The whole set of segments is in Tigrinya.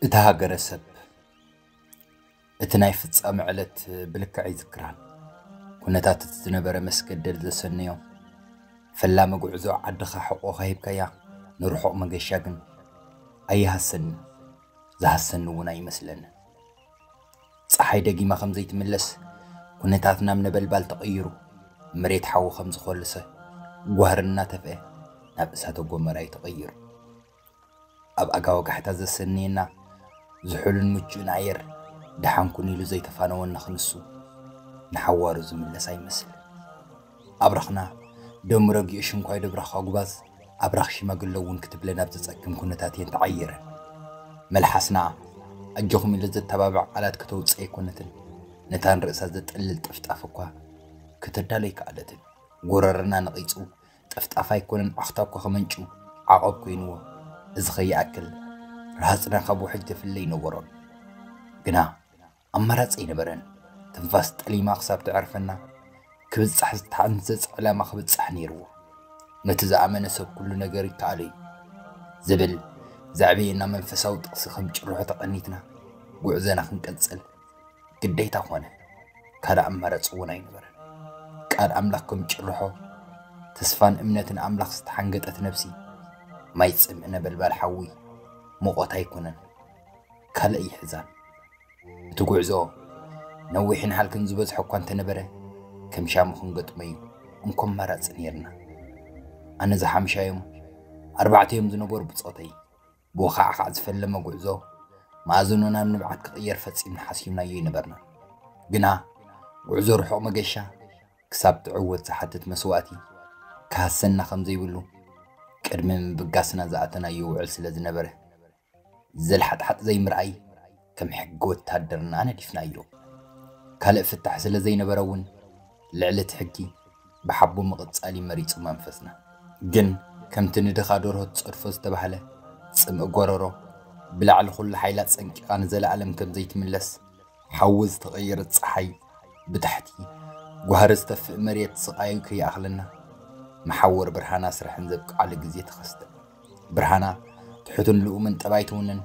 እታ ሃገረሰብ እቲ ናይ ፍጻመ ዕለት ብልክዕ ይዝክራን ኩነታት እቲ ዝነበረ መስገደል ዘሰነዮ ፈላሚ ጉዕዞ ዓድኻ ሕቆ ከሂብካያ ንርሑቕ መገሻ ግን ኣይሃሰኒ ዝሃሰኒ እውን ኣይመስለንን ጸሓይ ደጊማ ከም ዘይትምለስ፣ ኩነታት ናብ ነበልባል ተቐይሩ፣ መሬት ሓዊ ከም ዝኾልሰ፣ ጓህሪ እናተፍኤ ናብ እሳተ ጎመራ እዩ ተቐይሩ። ኣብ ኣጋ ወጋሕታ ዘሰንየና ዝሑልን ምቹእን ኣየር ደሓን ኩን ኢሉ ዘይተፋነወና ክንሱ ንሓዋሩ ዝምለስ ኣይመስልን። ኣብራኽና ደሙ ረጊኡ ሽንኳይ ዶብራኻ ጉባዝ ኣብራኽ ሽማግለ እውን ክትብለን ኣብ ዘጸግም ኩነታት እየን ተዓይረን። መልሓስና ኣጆኹም ኢሉ ዘተባብዕ ቃላት ከተውጽእ ኣይኮነትን፣ ነታ ንርእሳ ዘጠልል ጥፍጣፍ እኳ ከተዳሉ ኣይከኣለትን። ጎረረና ነቒጹ፣ ጥፍጣፍ ኣይኮነን ዓኽታ እኳ ከመንጩ ዓቐብ ኮይንዎ። እዚ ከይኣክል ረሃጽና ካብ ውሕጅ ዘፍለ ኣይነበሮን። ግና ኣማራጺ ኣይነበረን። ትንፋስ ጠሊማ ክሳብ ትዕርፈና ክብጻሕ ዝተሓንጸጸ ዕላማ ክብጻሕ ነይርዎ። ነቲ ዝኣመነ ሰብ ኩሉ ነገር ይከኣሎ እዩ ዝብል ዘዕበየና መንፈሳዊ ጥቕሲ ከም ጭርሖ ተቐኒትና ጉዕዘና ክንቀጽል ግዴታ ኮነ። ካልእ ኣማራጺ እውን ኣይነበረን። ቃል ኣምላኽ ከም ጭርሖ ተስፋን እምነትን ኣምላኽ ዝተሓንገጠት ነብሲ ማይ ጽምእ ነበልባል ሓዊ ሙቖት ኣይኮነን ካልእ ይሕዛን። እቲ ጉዕዞ ነዊሕን ሃልክን ዝበዝሖ እኳ እንተነበረ ከም ሻሙ ክንገጥሞ'ዩ እንኮ ኣማራጺ ነይርና። ኣነ እዛ ሓምሻዮም ኣርባዕተዮም ዝነበሩ ብጾተይ ብወኻዕኻዕ ዝፈለመ ጉዕዞ መኣዝኑ ናብ ንብዓት ክቕየር ፈጺምና ሓሲብናዮ ኣይነበርናን። ግና ጉዕዞ ርሑቕ መገሻ ክሳብ ትዕወት ዝሓትት መስዋእቲ ክሃሰና ከም ዘይብሉ ቅድሚ ምብጋስና ዝኣተናዮ ውዕል ስለ ዝነበረ ዘልሓጥሓጥ ዘይምርኣይ ከም ሕጊ ወተሃደርና ነዲፍናዮ። ካልእ ፍታሕ ስለ ዘይነበረ እውን ልዕሊ እቲ ሕጊ ብሓቦ ምቕጻል እዩ መሪጹ መንፈስና። ግን ከምቲ ንድኻ ደርሆ ትጸድፎ ዝተባህለ፣ ጽምኢ ጎረሮ ብላዕሊ ኩሉ ሓይላ ጸንቂቓ ንዘለኣለም ከም ዘይትምለስ፣ ሓዊ ዝተቐየረት ጸሓይ ብታሕቲ ጓህሪ ዝተፍእ መሬት ስቓዩ ከይኣኽለና፣ መሓወር ብርሃን ኣስራሕን ዘብቅዓሉ ግዜ ተኸስተ። ብርሃና ትሑትን ልኡምን ጠባይ ትውንን፣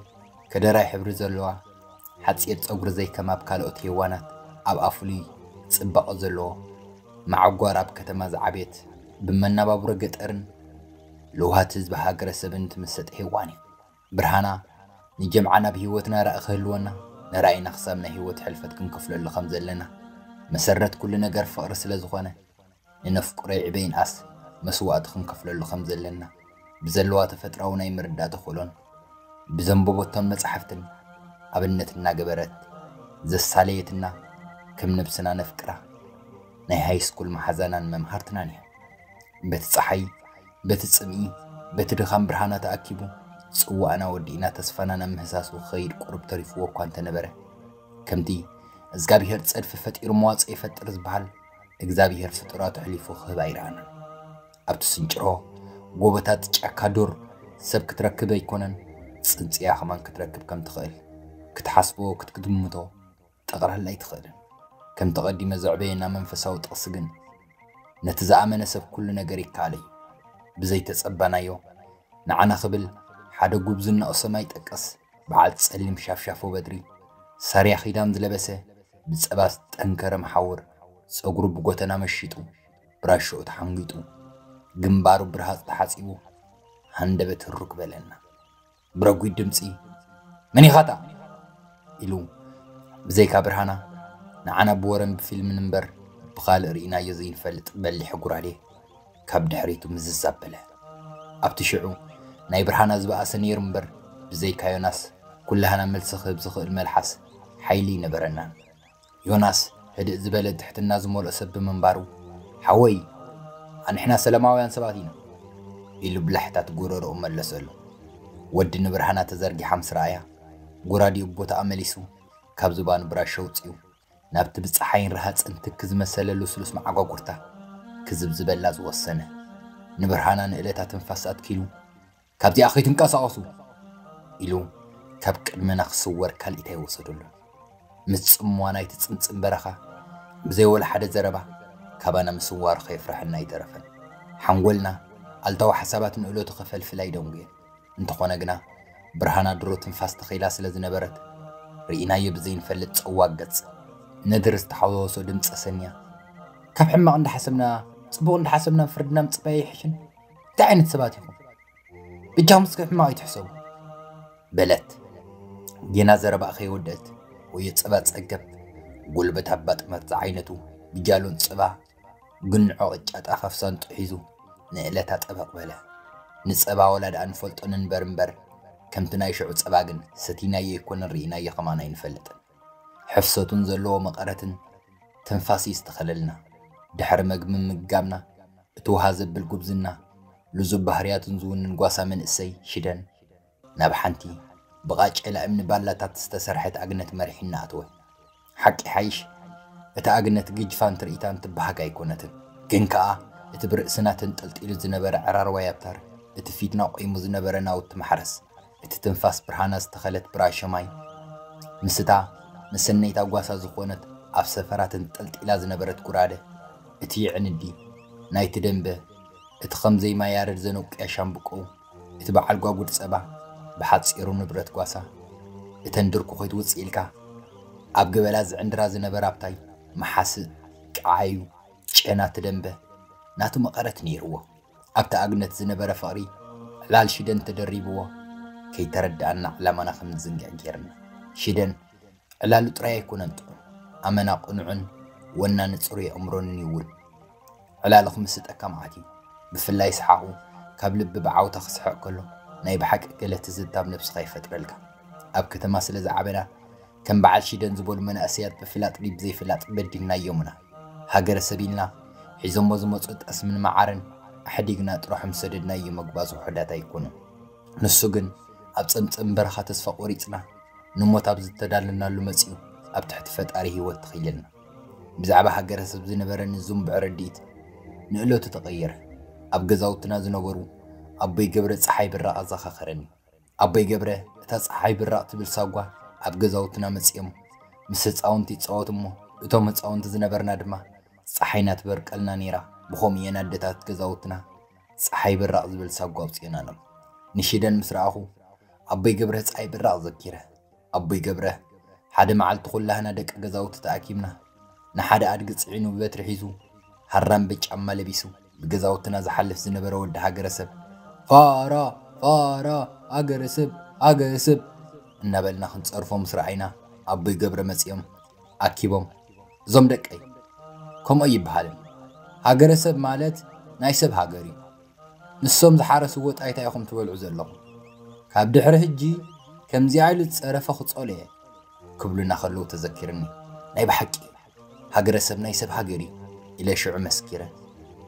ከደራይ ሕብሪ ዘለዋ፣ ሓጺር ጸጉሪ ዘይከም ኣብ ካልኦት ሄዋናት ኣብኣ ፍሉይ ጽባቐ ዘለዎ፣ መዓጓር ኣብ ከተማ ዝዓበየት፣ ብመናባብሮ ገጠርን ለውሃት ህዝቢ ሃገረሰብን ትምሰጥ ሄዋን እያ። ብርሃና ንጀምዓ ናብ ህይወትና ራኢ ክህልወና፣ ንራኢና ክሳብ ናይ ህይወት ሕልፈት ክንከፍለሉ ከም ዘለና፣ መሰረት ኩሉ ነገር ፍቕሪ ስለ ዝኾነ፣ ንነፍቅሮ ይዕበ ይንኣስ መስዋእቲ ክንከፍለሉ ከም ዘለና ብዘለዋ ተፈጥራዊ ናይ ምርዳእ ተኽእሎን ብዘንበቦቶም መጻሕፍትን ኣብነት እናገበረት ዘሳለየትና ከም ነብስና ነፍቅራ ናይ ሃይስኩል መሓዛናን መምሃርትናን እያ። በቲ ፀሓይ፣ በቲ ጽምኢ፣ በቲ ድኻም ብርሃና ተኣኪቡ ጽዋእና ወዲእና ተስፋና ናብ ምህሳሱ ክኸይድ ቁርብ ተሪፍዎ እኳ እንተነበረ ከምቲ እዝጋብሄር ጸድፊ ፈጢሩ መዋጽኦ ይፈጥር ዝበሃል እግዛብሄር ፍጡራቱ ኣሕሊፉ ክህብ ኣይረኣናን። ኣብ ትስንጭሮ ጎቦታት ጫካ ዱር ሰብ ክትረክብ ኣይኮነን ጽንጽያ ከማን ክትረክብ ከም ትኽእል ክትሓስቦ ክትግምቶ ጠቕላላ ኣይትኽእልን። ከምቲ ቀዲመ ዘዕበየና መንፈሳዊ ጥቕሲ ግን ነቲ ዝኣመነ ሰብ ኩሉ ነገር ይከኣል እዩ። ብዘይተጸበናዮ ንዓና ክብል ሓደ ጉብዝናኡ ሰማይ ጠቀስ በዓል ጸሊም ሻፍሻፎ በትሪ፣ ሳርያ ኺዳን ዝለበሰ፣ ብጸባ ዝጠንከረ መሓውር፣ ጸጉሩ ብጎተና መሺጡ፣ ብራሾኡ ተሓንጒጡ፣ ግንባሩ ብረሃጽ ተሓጺቡ፣ ሃንደበት ህሩክ በለና። ብረጒድ ድምጺ መን ኢኻታ ኢሉ ብዘይካ ብርሃና ንዓና ብወረን ብፊልምን እምበር ብኻልእ ርኢናዮ ዘይንፈልጥ በሊሕ ጉራዴ ካብ ድሕሪቱ ምዝዝ ኣበለ። ኣብቲ ሽዑ ናይ ብርሃና ዝበኣሰ ነይሩ እምበር ብዘይካ ዮናስ ኩላህና መልሲ ክህብ ዝኽእል መልሓስ ሓይሊ ኣይነበረናን። ዮናስ ህድእ ዝበለ ትሕትና ዝመልኦ ሰብ ብምንባሩ ሓወይ ኣንሕና ሰለማውያን ሰባት ኢና ኢሉ ብላሕታት ጎረርኡ መለሰሉ። ወዲ ንብርሃና ተዘርጊሓ ምስ ረኣያ ጉራዲኡ ቦታኣ መሊሱ ካብ ዝባኑ ብራሾ ኣውጺኡ ናብቲ ብጸሓይን ረሃጽን ትኪ ዝመሰለ ልስሉስ መዓጓጉርታ ክዝብዝበላ ዝወሰነ፣ ንብርሃና ንእለታ ትንፋስ ኣትኪሉ፣ ካብዚኣ ከይትንቀሳቐሱ! ኢሉ ካብ ቅድመና ክስወር ካልኢት ኣይወሰደሉን። ምስ ጽምዋ ናይቲ ጽምጽም በረኻ ብዘይ ወላ ሓደ ዘረባ ካባና ምስዋሩ ከየፍረሐና ኣይተረፈን። ሓንጎልና ኣሉታዊ ሓሳባት ንእለቱ ከፈልፍል ኣይደንጉየን። እንተኾነ ግና ብርሃና ድሮ ትንፋስ ተኺላ ስለ ዝነበረት ርኢናዮ ብዘይንፈልጥ ጸዋግ ገጽ ነድሪ ዝተሓዋወሶ ድምጺ ሰምያ ካብ ሕማቕ እንዳሓሰብና ጽቡቕ እንዳሓሰብና ፍርድና ምጽባይ ኣይሕሽን እንታይ ዓይነት ሰባት ኢኹም ብጃኹም እስከ ሕማቕ ይትሕሰቡ በለት ጌና ዘረባኣ ከይወደእት ወዮ ጸባ ጸገብ ጉልበት ኣባ ጥመት ዝዓይነቱ ብጃሎን ጽባ ግንዖ ቅጫ ጣፍ ኣብ ሳንጥኡ ሒዙ ንእለታ ጠበቕ በለ። ንጸባ ወላ ደኣ ንፈልጦ ንንበር እምበር፣ ከምቲ ናይ ሽዑ ጸባ ግን ሰቲናዮ ኣይኮነን ርኢናዮ ከማን ኣይንፈልጥን። ሕፍሰቱን ዘለዎ መቐረትን ትንፋስ እዩ ዝተኸለልና። ድሕሪ መግቢ ምምጋብና፣ እቲ ውሃ ዘብል ጉብዝና፣ ልዙብ ባህርያቱን ዝውንን ጓሳ መንእሰይ ሽደን ናብ ሓንቲ ብቓጬላ እምኒ ባላታት ዝተሰርሐት ኣግነት መሪሒና ኣተወ። ሓቂ ይሓይሽ እታ ኣግነት ግጅፋን ትርኢታን ትበሃግ ኣይኮነትን። ግን ከኣ እቲ ብርእስና ተንጠልጢሉ ዝነበረ ዕራርዋይ ኣብታር፣ እቲ ፊትና ቆይሙ ዝነበረ ናውቲ ማሕረስ፣ እቲ ትንፋስ ብርሃና ዝተኸለት ብራሾ ማይ፣ ምስታ መሰነይታ ጓሳ ዝኾነት ኣብ ሰፈራ ተንጠልጢላ ዝነበረት ጉራደ፣ እቲ የዕንዲ ናይቲ ደምበ፣ እቲ ከም ዘይማ ያረድ ዘነቁያ ሻምብቆኡ፣ እቲ በዓል ጓጉድ ጸባ ብሓጺሩ ንብረት ጓሳ እተን ድርኩ ኮይ ትውጽእ ኢልካ ኣብ ገበላ ዝዕንድራ ዝነበራ ኣብታይ መሓስእ ቀዓዩ ጨና ትደምበ ናቱ መቐረት ነይርዎ ኣብቲ ኣግነት ዝነበረ ፍቕሪ ዕላል ሽደን ተደሪብዎ ከይተረደኣና ዕላማና ከምንዝንግዕ ጌርና ሽደን ዕላሉ ጥራይ ኣይኮነን ጥዑም፣ ኣመና ቅኑዕን ወናኒ ጽሩይ ኣእምሮን እዩ እውን። ዕላሉ ክምስጠካ መዓት እዩ፣ ብፍላይ ሰሓቑ ካብ ልቢ ብዓውታ ክስሕቕ ከሎ ናይ ብሓቂ ገለ ትዝታ ኣብ ነብስኻ ይፈጥረልካ። ኣብ ከተማ ስለ ዝዓበና ከም በዓል ሺደን ዝበሉ መናእሰያት ብፍላጥ ድዩ ብዘይፍላጥ በዲልናዮምና። ሃገረሰብ ኢልና ሒዞሞ ዝመጽኡ ጠስምን መዓርን ኣሕዲግና ጥረሖም ሰደድናዮ መግባዝ ውሑዳት ኣይኮኑን። ንሱ ግን ኣብ ጸምጸም በረኻ ተስፋ ቆሪጽና ንሞት ኣብ ዝተዳለናሉ መጺኡ ኣብ ትሕቲ ፈጣሪ ህይወት ተኸይለልና። ብዛዕባ ሃገረሰብ ዝነበረኒ ዝንቡዕ ርድኢት ንእለቱ ተቐየረ። ኣብ ገዛውትና ዝነበሩ ኣቦይ ገብረ ጸሓይ ብራቕ ኣዘኻኸረኒ። ኣቦይ ገብረ እታ ጸሓይ ብራቕ ትብል ሳጓ ኣብ ገዛውትና መጺኦም ምስ ህጻውንቲ ይጻወቱ እሞ እቶም ህጻውንቲ ዝነበርና ድማ ጸሓይና ትበርቀልና ነይራ ብኸምኡ እየን ኣደታት ገዛውትና ጸሓይ ብራቕ ዝብል ሳጓ ኣውጺእና ኣሎ። ንሽደን ምስ ረኣኹ፣ ኣቦይ ገብረ ጸሓይ ብራቕ ዘኪረ። ኣቦይ ገብረ፣ ሓደ መዓልቲ ኩላህና ደቂ ገዛውቲ ተኣኪብና፣ ንሓደ ኣድጊ ጽዒኑ ብበትሪ ሒዙ፣ ሃራምበ ጫማ ለቢሱ፣ ብገዛውትና ዝሓልፍ ዝነበረ ወዲ ሃገረሰብ፣ ፋራ! ፋራ! ሃገረሰብ! ሃገረሰብ! እናበልና ክንጸርፎ ምስ ረኣይና፣ ኣቦይ ገብረ መጺኦም ኣኪቦም፣ እዞም ደቀይ ከምኡ ኣይበሃልን ሃገረሰብ ማለት ናይ ሰብ ሃገር እዩ ንሶም ዝሓረስዎ ጣይታ ኢኹም ትበልዑ ዘለኹም ካብ ድሕሪ ህጂ ከምዚኣ ኢሉ ዝፀረፈ ክፀሎ እየ ክብሉና ከለዉ ተዘኪርኒ ናይ ብሓቂ ሃገረሰብ ናይ ሰብ ሃገር እዩ ኢለ ሽዑ መስኪረ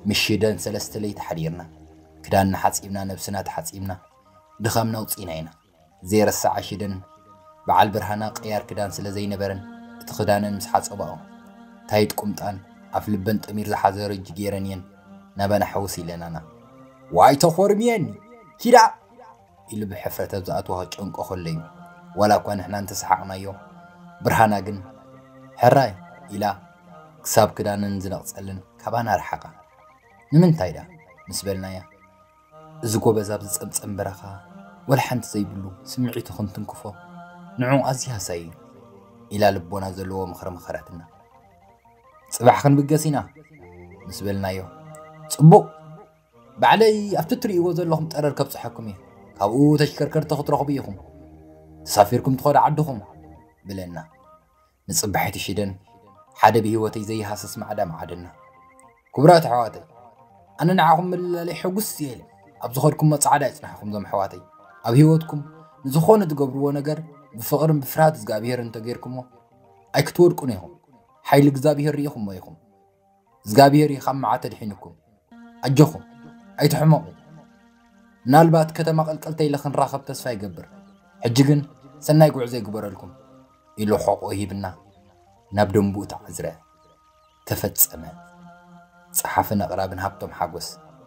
ምሽደን ሰለስተ ለይቲ ሓዲርና ክዳንና ሓፂብና ነብስና ተሓፂብና ድኻምና ውፅኢና ኢና ዘይርሳዕ ኣሽደን ብዓል ብርሃና ቅያር ክዳን ስለ ዘይነበረን እቲ ክዳነን ምስ ሓጸባኦ ታይት ቁምጣን ኣፍ ልበን ጠሚር ዝሓዘ ረጂ ገይረን እየን ናባና ሕውስ ኢለናና። ዋይ ተኾርምየን ኪዳ ኢሉ ብሕፍረት ኣብ ዝኣትዎ ክጨንቆ ከሎ እዩ። ዋላ እኳ ንሕና እንተሰሓቕናዮ ብርሃና ግን ሕራይ ኢላ ክሳብ ክዳነን ዝነቕጸለን ካባና ረሓቓ። ንምንታይ ደኣ ምስ በልናያ እዚ ጎበዝ ኣብ ዝጸምጸም በረኻ ወላ ሓንቲ ዘይብሉ ስምዒቱ ክንትንክፎ ንዕኡ ኣዝዩ ሃሳይ እዩ ኢላ ልቦና ዘለዎ ምኽሪ መኸረትና። ጽባሕ ክንብገስ ኢና ምስ በልናዮ ጽቡቕ ባዕለይ ኣብቲ እትርእይዎ ዘለኹም ጠረር ከብጽሐኩም እየ ካብኡ ተሽከርከርቲ ክትረኽቡ ኢኹም ተሳፊርኩም ትኸዱ ዓድኹም ብለና። ንጽባሒቱ ሺደን ሓደ ብሂወተይ ዘይሃስስ ማዕዳ መዓደና። ክቡራት ኣሕዋተይ ኣነ ንዓኹም ምልላለይ ሕጉስ እየ ኢለ ኣብ ዝኸድኩሞ ጻዕዳ ይጽናሕኹም ዞም ኣሕዋተይ ኣብ ሂወትኩም ንዝኾነ ትገብርዎ ነገር ብፍቕርን ብፍርሃት እዝግኣብሄርን እንተጌርኩሞ ኣይክትወድቁን ኢኹም ሓይሊ እግዝኣብሄር ሪኢኹሞ ኢኹም እዝጋብሄር እዩ ካብ መዓት ኣድሒኑኩም ኣጆኹም ኣይትሕመቑ ምናልባት ከተማ ቀልቀልተ ኢለ ክንራኸብ ተስፋ ይገብር ሕጂ ግን ሰናይ ጉዕዞ ይግበረልኩም ኢሉ ሕቆ ሂብና ናብ ደንቡኡ ተዓዝረ ተፈጸመ ጸሓፍን ኣቕራብን ሃብቶም ሓጎስ